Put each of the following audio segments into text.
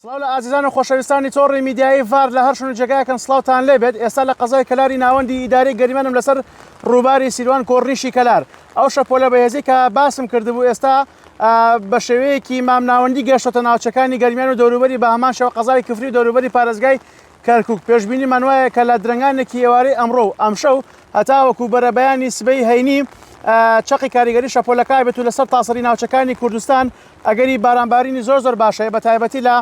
سڵاو لە ئازیزان و خۆشەویستانی تۆڕی میدیایی ڤار لە هەر شوێن و جێگایەکن سڵاوتان لێ بێت ئێستا لە قەزای کەلاری ناوەندی ئیدارەی گەریمانم لەسەر ڕووباری سیروان کۆڕنیشی کەلار ئەو شەپۆلە بەهێزی کە باسم کردبوو ئێستا بە شێوەیەکی مامناوەندی گەشتۆتە ناوچەکانی گەرمیان و دەوروبەری بە هەمان شەوە قەزای کفری و دەوروبەری پارێزگای کەرکوک، پێشبینیمان وایە کە لە درەنگانێکی ئێوارەی ئەمڕۆ و ئەمشەو هەتاوەکو بەرەبەیانی سبەی هەینی چەقی کاریگەری شەپۆلەکە بێت و لەسەر تاسەری ناوچەکانی کوردستان ئەگەری بارانبارینی زۆر زۆر باشەیە بە تایبەتی لە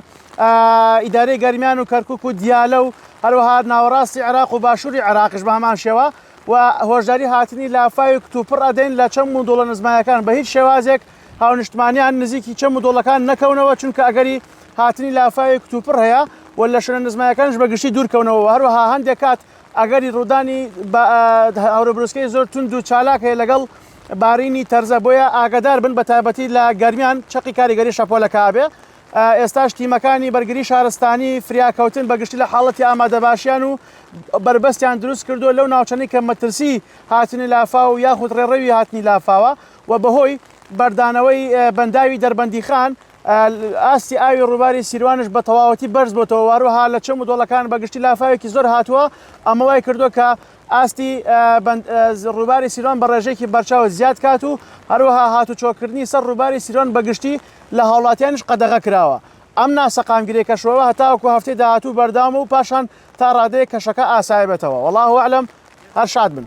ئیدارەی گەرمیان و کەرکک و دیالە و هەروەها ناوەڕاستی عراق و باشووری عراقش بە هەمان شێوە و هۆشداری هاتنی لافاوی کتوپڕ ئەدەین لە چەم و دۆڵە نزمایەکان بە هیچ شێوازێک هاونشتمانیان نزیکی چەم و دۆڵەکان نەکەونەوە چونکە ئەگەری هاتنی لافاوی کتوپڕ هەیە و لە شوێنە نزمایەکانش بەگشتی دوورکەونەوە هەروەها هەندێک کات ئەگەری ڕوودانی هەوربرسکەی زۆر تونند و چالاک هەیە لەگەڵ بارینی تەرزە بۆیە ئاگدار بن بە تایبەتی لە گەرمیان چقی کاریگەری شەپۆلەکبێ ئێستاش تیمەکانی بەرگری شارستانی فریاکەوتن بەگشتی لە حاڵەتی ئامادەباشیان و بربەستیان دروست کردو لەو ناوچەنی کە مەترسی هاتنی لافاو یاخود ڕێڕەوی هاتنی لافاوە و بەهۆی بەردانەوەی بەنداوی دەربەندیخان ئاستی ئاوی ڕووباری سیروانش بە تەواوەتی بەرز بۆتەوە واروها لە چەم و دۆڵەکان بەگشتی لافاوێکی زۆر هاتووە ئەمە وای کردووە کە ئاستی ڕووباری سیروان بە ڕێژێکی بەرچاو زیاد کات و هەروەها هاتو چۆکردنی سەر ڕووباری سیروان بەگشتی لە هاوڵاتیانش قەدەغە کراوە ئەم ناسەقامگیری کەشەوە هەتاوەکو هەفتەی داهاتوو بەردام و پاشان تا ڕادەیە کەشەکە ئاسایبێتەوە وەڵاهوەعلم هەر شاد بن.